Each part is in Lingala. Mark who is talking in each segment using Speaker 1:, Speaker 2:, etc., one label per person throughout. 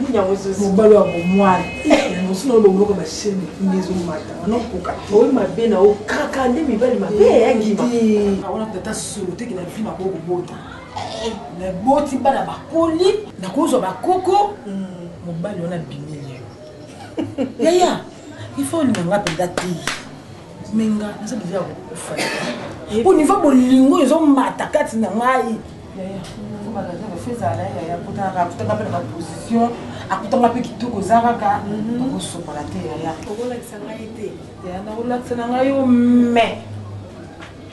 Speaker 1: Nini yango ezo mobali wa bomwana. Yango sino bo moko ba shemi ngi ezo mata. Ono koka. Oyi mabe na o kaka nde mibali mabe ya ngima. Awona tata solo te kina vima ko bota. Na boti bana bakoli na kozwa bakoko mobali wana bimi yo. Yaya, il faut ni nga penda te. Menga, nza bivya ko fa. Au niveau bolingo ezo mata kati na ngai. akutanga mpe kitoko eza kaka okosokola te yaya okolakisa ngai te yaya nakolakisa na ngai yo me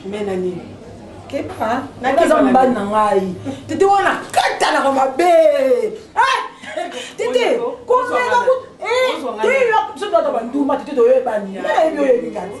Speaker 1: me na nini keba naza mobali na ngai tete wana katanaka mabe tete komeka biso toata banduma tete toyebani nayebi oyebi kati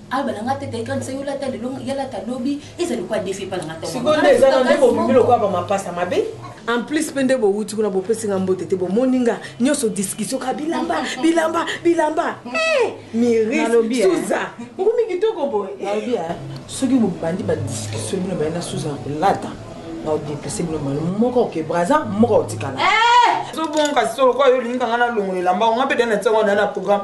Speaker 1: aloba na nga tete ekanisa yo lata lelo ya lata lobi eza lokola defi epa na nga sikoyo nde eza na nde bobimi lokola bamapasa mabe en plus mpe nde bowuti kuna bopesi nga mbote te bomoni nga nyonso discussion ka bilamba bilamba bilamba eh, mirissuza ngumi kitoko boye ah, soki bobandi badiscussion bino baye na suza ya kolata naodepese bino mano moko oke braza moko otikala eh! zobonga kasi solokoa yo olingi kanga nalongola elamba onga mpe dana ntiango na na programme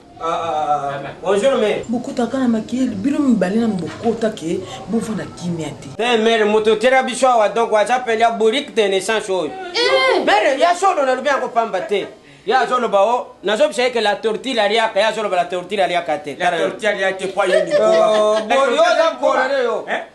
Speaker 1: Bonjour mère. Bokota kana makili bino mibale na bokota ke bovanda kimia te. Eh mère moto tera biso awa donc waza pele ya bourrique de naissance oyo. Eh. Mère ya solo na lobi yango pamba te. ye azoloba o oh, nazobisa yeke la tortille aliaka ye azoloba la tortille aliaka te la tortille aliaka te po ayoni oh, boyoza mponane yo eh?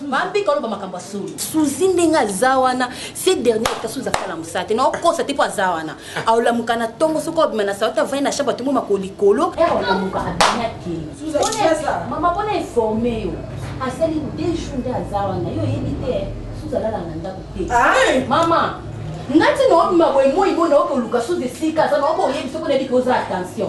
Speaker 2: bambika oloba makambo ya solo suzi ndenge aza wana se dernier ata suzi asala mosala te naokosa te mpo aza wana aolamuka na ntongo soki obima na salate avandi na shamba tongo mako likolo aolamuka abimi akeimama
Speaker 1: mpona informe
Speaker 2: yo asali de jour nde aza wana yo oyebi te suzi alala na ndako te ah! mama nga ntina obima boye moi bo naokoluka suzi esika aza naokoyebi soki onayebi ke oza attention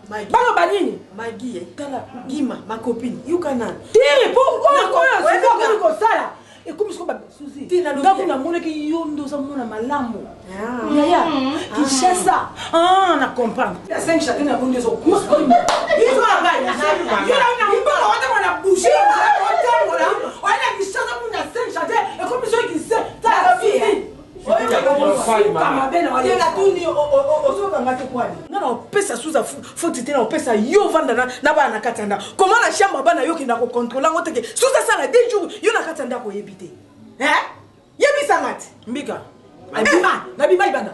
Speaker 1: baloba nini magi eh, tala
Speaker 3: gima ma copine yuka na te po oyo
Speaker 1: oyo suzi akomi kosala ekomi soko basuzi ngaku namonaki yo nde oza mona malamu ah. yaya mm-hmm. ah. kinshasa ah, na comprendre ya 5 chate na bonde ezokusa opesa suza foti te na opesa yo ovanda na bana na kati ya ndako koma na chambre bana yo okenda kocontrole yango teke suza asala de jour yo na kati ya ndako oyebi te yebisanga te mbika nabima nabima libanda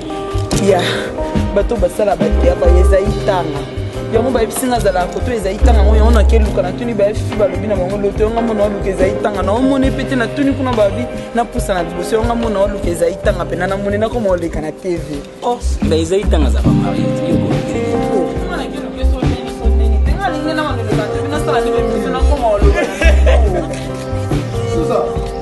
Speaker 4: ya bato basala bateatre ezali tanga yango bayebisi nga azalaka koto ezali tanga yango yango nake luka natuni bayefi balobi na bango loto yango mona waluka ezali tanga na omoni mpe te natuni kuna balobi napusa na liboso yango mona waluka ezali tanga mpe na namoni nakoma oleka na tv oh, na ezali
Speaker 5: tanga azaka marie
Speaker 6: Susa.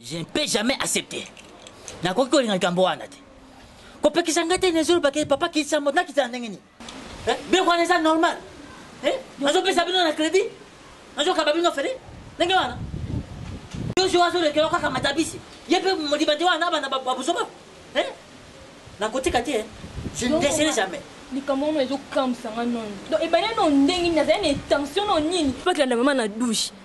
Speaker 7: Je ne peux jamais accepter. nakoki kolinga likambo wana te kopekisa ngai te nezolo bakei papa kisambo nakitana ndenge nini Eh, biloko wana eza normal eh, nazopesa bino na crédit nazokaba bino fere ndenge wana yozo azolekela kaka matabisi ye mpe modiba te wana abana babuzoba eh, nakotika te je ne desere jamais likambo wana
Speaker 2: ezokamwisa nga nono donc ebale no ndenge nini azali na intention no nini mpo akilanda mama na douche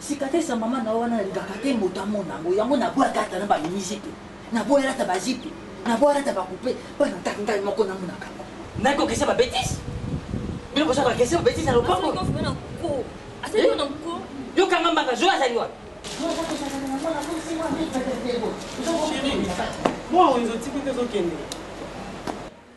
Speaker 7: Cicatrice ya maman na yo wana nalingaka te moto amona yango, yango naboyaka ata na ba mini zipe, naboya lata ba zipe, naboya lata ba coupe bana kaka ngai moko namonaka yango. Nani ko kese ba betise? Bino boza ba kese ba betise na lopango? Yo kanga mbanga zoe azali wapi? Chérie,
Speaker 5: moi wenze otiki te ozokende.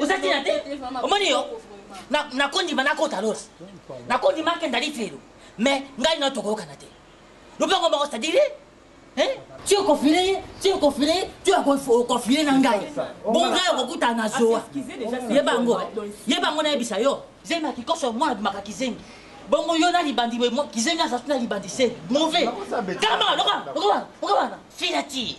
Speaker 7: oza tina te omoni yo nakondima nakota lola nakondima akenda liti lelo mais ngai nao tokoyokana te lopango moko sadire ti okofile ye ti okofile ye ti okofile na ngai bo ngai okokutana na zowa yeba yango yeba yango nayebisa yo zema kikoso mwana bimaka kizengi bongo yo na libandi kizengi aza tuna libandi se mauvais kama lokola lokola lokola fila ti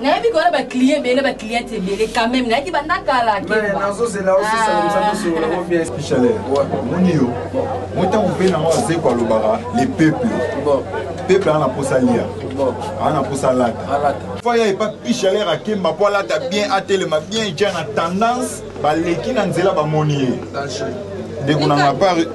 Speaker 2: nayebi kona ba client ebele ba client ebele quand même
Speaker 8: nayaki banda kala moni
Speaker 9: yo motango mpe nango azeko alobaka le peuple
Speaker 8: peuple aa na mposa
Speaker 9: lia aa na
Speaker 8: mposa alata
Speaker 9: faya epa pichalere akemba mpo alata bien atelema bien ja na tendance baleki na nzela bamoni ye
Speaker 8: ndeko na
Speaker 9: mapari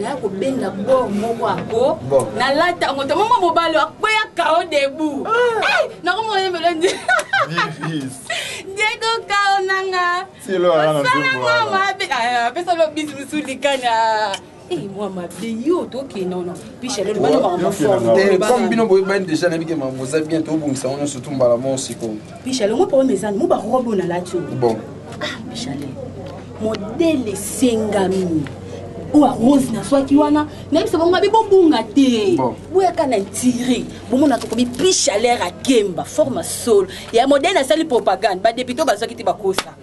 Speaker 2: naya kobenda bor moko ako nalata yango to mama mobali akweya kao debu ah. nakomona yembelo nde diego kao nanga osalanga
Speaker 9: mabe ah,
Speaker 2: apesa lobisi mosu likanya eh, mwa mabe yo toke nono pishalelobanomaforme bino boyebani
Speaker 8: deja nayebi ke mama boza bien tobongisa ngo nyonso tu mbala mo sikoyo pishalongo problème
Speaker 2: ezani mo barobe onalati oyo bon ah
Speaker 8: pishalel
Speaker 2: modele esengami oyo arose nazwaki wana nayebisa bango mabe bobunga te boyaka na intire bomona tokomi plus chaleur akemba forme solo ya modele asali propagande badepute bazwaki te bakosa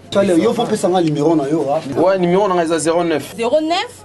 Speaker 2: yo fo opesanga
Speaker 10: numero na yo wa numero nanga eza 09
Speaker 8: 09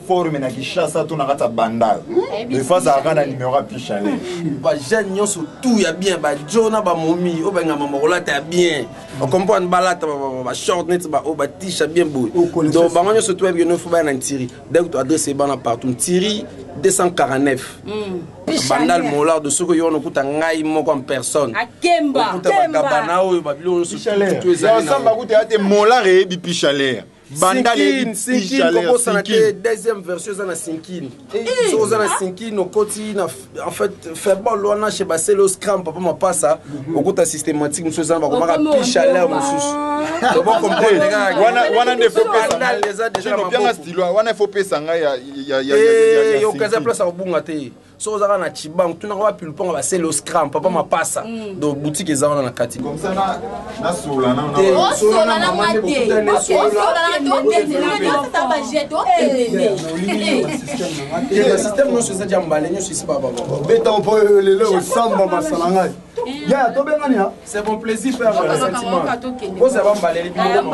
Speaker 9: forme na Kinshasa to na kati ya Bandal defa azalaka na numero ya picha ye ba jeune
Speaker 8: nyonso tout ya bien ba jo na ba momi oyo bangama bakolata ya bien ocomprendre balata ba short neti ba oyo batisha bien boye donc bango nyonso to yebike nofo baya na ntiri donc to adresse ebana partout ntiri 249 bandal molardo soki oyo wana okuta ngai moko en personne okuta
Speaker 2: bagabana oyo
Speaker 8: babilo nyonso ezali
Speaker 9: na te molar eyebi pichalere banda le sinkin kobosana te deuxième
Speaker 8: version eza na sinkin eh. soki oza na sinkin okoti na en fait fairball wana chez basele oscram papa mapasa mhm. okota systématique mosusu eza na bakomaka pi chaleur mosusu wana nde wana ifo
Speaker 9: pesa ngai
Speaker 8: yokaza place ya kobunga te soki ozaka na chibangu tunaka wapi lupango ba sele oscram papa mm. mapasa mm. donc boutique eza wana na kati systeme nyonso eza ja mbale nyonso esi bababeta mpo
Speaker 10: lelo osamba masala ngai ya tobengani c'est bon plaisir père
Speaker 8: sentiment ozala bambaleli bino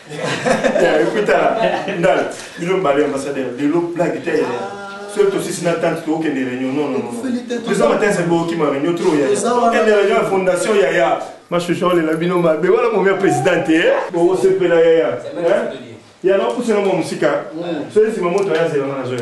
Speaker 10: ekutala ndala bino mbale ambassadeur lelo blague te yaya soki tosisi na tante tokokende réunion nonnoeza matin se bokima réunion tro yayaende réunion ya fondation yaya mashusha olela bino mabe wana momi ya président te bokosepela yaya ya nakopusela mwa mosika soki nsima moto aya
Speaker 11: zelanga
Speaker 10: nazoya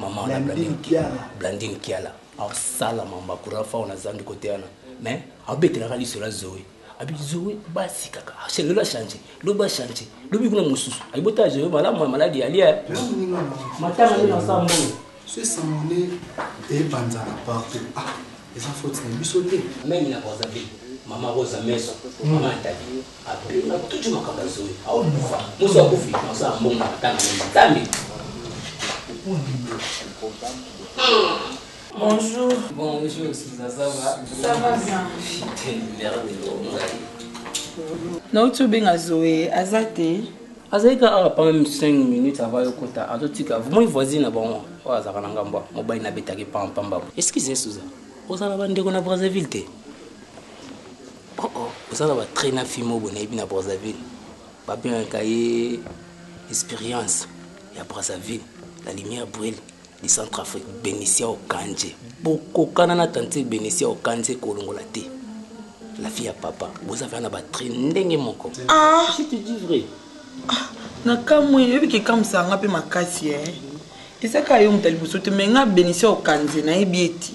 Speaker 12: maman na blandine kiala blandine kiala asala mamba courant fao na zandi kote wana mais abetelaka liso la zoe abi zoe basi kaka lelo achange lobi achange lobi kuna mosusu ayibota zoe malamu ya maladi ya lia matanga nde nasa mbongo so esamone
Speaker 13: ebanzaka partout ah eza foti na biso te meme na rosabe
Speaker 12: mama rosa meso mama atali Abenga tuju makambo ya zoe ao lufa musu akufi naosa ya mbongo ata na moni nzambe
Speaker 4: Bonjour. Bonjour, Sousa, ça va Ça va bien. Putain, merde, nauti obenga zoe aza te azalaki kaka awa
Speaker 12: pame 5 minutes ava yokota azotika moi voisine na bango oyo azalaka na ngambo mobali nabetaki pampamba excuse suza ozala bandeko na brazzaville te Oh oh, oza na ba train na fille moko boye nayebi na Brazzaville. Ba bengaka ye experience ya Brazzaville, la lumière brille du centre Afrique, Benicia Okanje. Bokokana na tante Benicia Okanje kolongola te. La fille ya papa, boza vana ba train ndenge moko. Ah, je te
Speaker 4: dis vrai.
Speaker 12: Ah, na
Speaker 4: kamwe, yebi ke kamsa nga pe makasi eh. Eza ka yo mutali bosote, mais nga Benicia Okanje nayebi eti.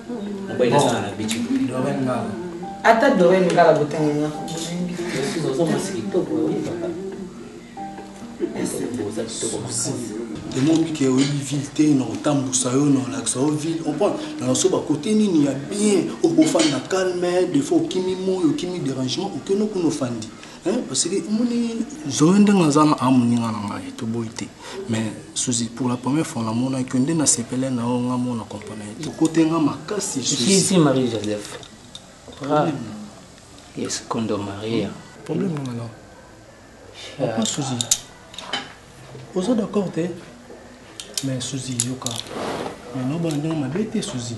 Speaker 13: ata dorel
Speaker 4: ngala
Speaker 12: botanga
Speaker 13: nga tomomi ke oyebi ville te na kotambusa yo na olakisa yo ville comprendre na naso bakote nini ya bien okofanda calme defaut okimi moi okimi dérangement okeno kuna ofandi Eh, parce que omoni zoe ndenge aza na a moninga na ngai toboyi te mais susi pour la première fois namonaki yo nde nasepele na yo nga mona comprene ye te kote nga makasi susi marie joseph
Speaker 12: ah. yes kondo maria problème nanga na
Speaker 13: papa susi oza d'accord te mais susi yoka mais nobana ndenge mabe te susi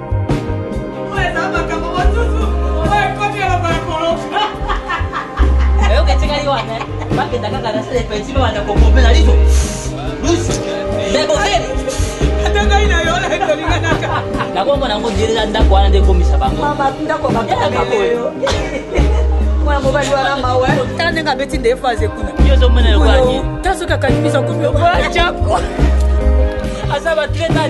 Speaker 7: nakombo nango dirila ndako wana nde ekomisa bango
Speaker 1: mwana mobali wana mawa tala ndenge abeti nde efase kuna
Speaker 7: ta soki akangi biso
Speaker 1: kubi aza batreta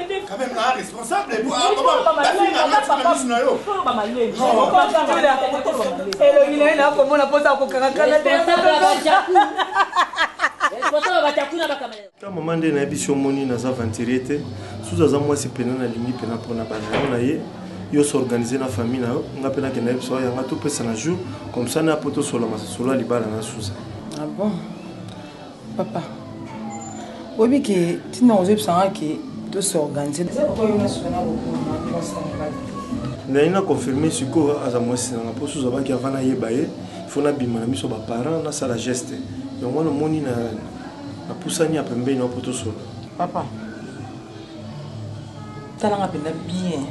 Speaker 10: Quand même, là, responsable,
Speaker 1: et puis, ah, comment, la fille n'a pas de mise, nayo. elongi na ye
Speaker 13: nakomona mposa kokakakana te mama nde nayebi si omoni naza aventurier te susu aza mwasi mpena nalingi mpena mpona banao na ye yo s'organiser na famille na yo nga mpe nakenda yebisa oyo yanga topesana jour comme ça na po tosola masolo ya libala na susa ah bon
Speaker 4: Papa, oyebi ke tina ozebisa nga ke to s'organiser. Eza papa yo na sona bokuma na mwasi na
Speaker 13: mobali. Naye na confirmer sikoyo aza mwasi na nga mpo suza baki avant nayeba ye faut nabima na miso ba parents nasala geste yango wana omoni na napusani ya pembeni wa mpo tosolola. Papa,
Speaker 4: tala nga mpenza bien.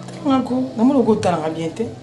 Speaker 4: Tala nga ko, namoni okotala nga bien te.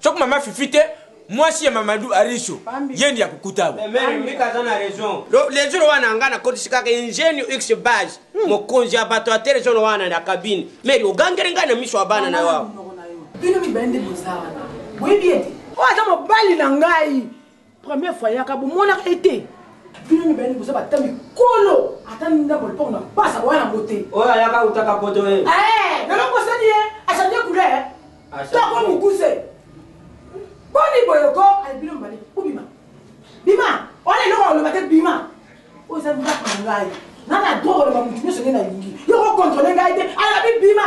Speaker 6: soki mama fifi te mwasi ya mamadu ariso ye ndi akokutaba
Speaker 5: lezono wana nga nakotisi kaka ingenio x base hmm. mokonzi ya bato ya telezono wana na kabine meri ogangeli ngai na miso ya bana na yo bino mibale
Speaker 1: nde boza wana boyebi ete oyo aza mobali na ngai Première fois yaka bo monaka ye te. Bino mibale boza ba tami kolo ata ndako lipoko na pasa boya na bote. Oyo ayaka utaka
Speaker 5: poto ye. Eh, na loko sani ye,
Speaker 1: a changer couleur. Toko mukuse. Boni boyo ko, ale bino mibale, bo bima. Bima, wana eloko ya loba te bima. Oyo eza ndako na ngai. Na na droit ko loba mutu nyoso nde na lingi. Yo ko controle ngai te, alobi bima.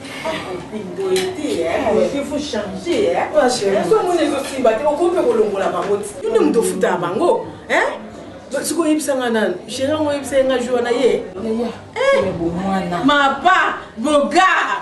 Speaker 1: yonde moto ofutaka bango sikoyo oyebisa nga nanu sheri yango oyebisa ye nga jour wana ye mapa bogar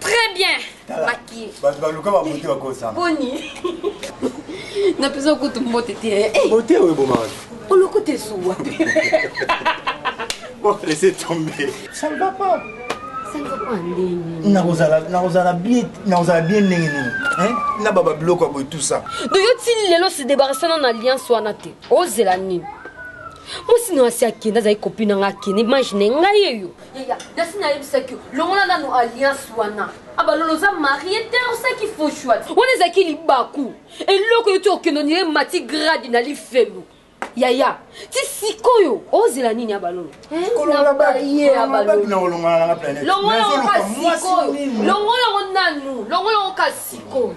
Speaker 14: très bien maquille bato baluka babote
Speaker 10: bakosana boni
Speaker 14: napesa kutu mbote te eh, eh. bote oyo ebomaka
Speaker 10: olokuta esuwa bon laisse tomber ça
Speaker 14: ne va
Speaker 10: pas nakozala bien ndenge nini na baba biloko ya boye tout ça donc yo ti lelo
Speaker 14: se débarrassana na alliance wana te ozela nini mwasi na wasi akende azali kopi na ngai akende imagine ngai eyo Yaya, nasi nayebisaki yo, longola nanu alliance wana. Abalolo oza marie te, osaki faux choix. Wana ezalaki libaku. Eloko yo ti okendo nire mati grade na lifelo. Yaya, ti sikoyo ozela nini abalolo? Eh, longola babi, ye abalolo. Na olongola na planète. Longola ngo kasi sikoyo. Longola ngo nanu, longola ngo kasi sikoyo.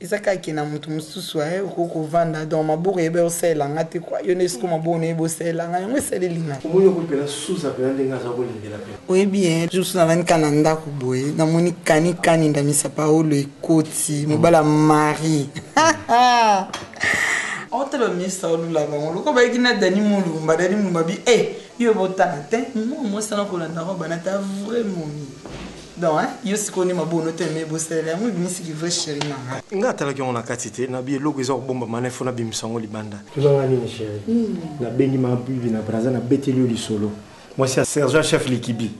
Speaker 1: Eza kaka ke na mutu mususu eh, okoki kovanda donc maboko eyeba yo osalela nga te quoi, yo nde sikoyo maboko noyebi osalela nga yango esaleli nga. Omoni yango pena Souza
Speaker 13: pena ndenge aza kolengela pena. Oyebi eh jour mosusu
Speaker 1: navandi kaka na ndaku boye namoni kani kani ndamisa paolo ekoti mobali ya Marie otala bamisa olula bango lokola bayaki na dani molumba dani molumba bi e yo ebotala te mwa mwasi wana kolanda ngo banata vrai momi Donc hein, yo sikoyo nde mabono oyo tellement ebosalela yango ebimisi ki vrai chéri na nga. Nga atalaki yango na kati
Speaker 13: te, na bi eloko eza kobomba mana il faut na bimisa yango libanda. Tuna nga nini chéri?
Speaker 15: Na bengi ma bibi na braza na beteli yo lisolo. Mwasi ya sergent
Speaker 13: chef likibi.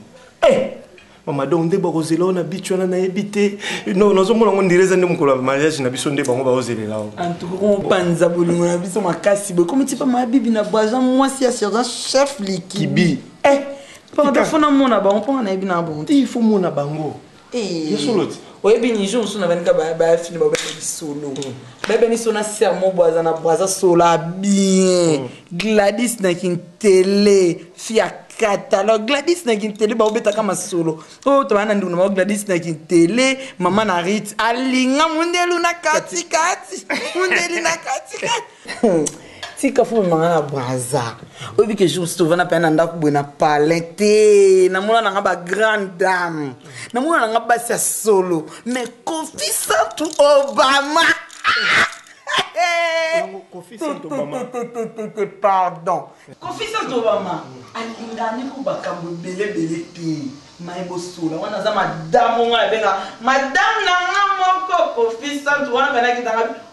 Speaker 13: Eh! Mama donc nde bako zela yo na beach wana na yebi te. Non nazo mona ngo ndireza nde mukolo ya mariage na biso nde bango bao zelela yo. En tout cas on
Speaker 1: panza bolingo na biso makasi boye. Komi tipa ma bibi na braza mwasi ya sergent chef likibi. Eh! Pardon, faut namona bango mpo nga nayebi na bango te. Il faut mona bango.
Speaker 13: Eh. Ya solo ti. Oyebi ni jour
Speaker 1: mosusu nabaninga bayafini babeta lisolo mm. bayeba ni sona ser mo bwaza na bwaza sola bien mm. gladis na kintele fia catalogue gladis na kintele baobetaka masolo oyo oh, tobaa na ndeko na bango gladis na kintele mama na rit alinga mondelu na katikati mondeli na katikati tika fo memanga na braza oyebi ke jour mosusu ovanda mpenza na ndako boye na palin te namona nanga bagrande dame namona nanga basi ya solo me kofi santu obama
Speaker 13: pardon
Speaker 1: kofi santu obama alingani ko bakambo ebelebele te mai bosola wana aza madame onga abenga madame na nga moko kofi santu wana mpenakitanga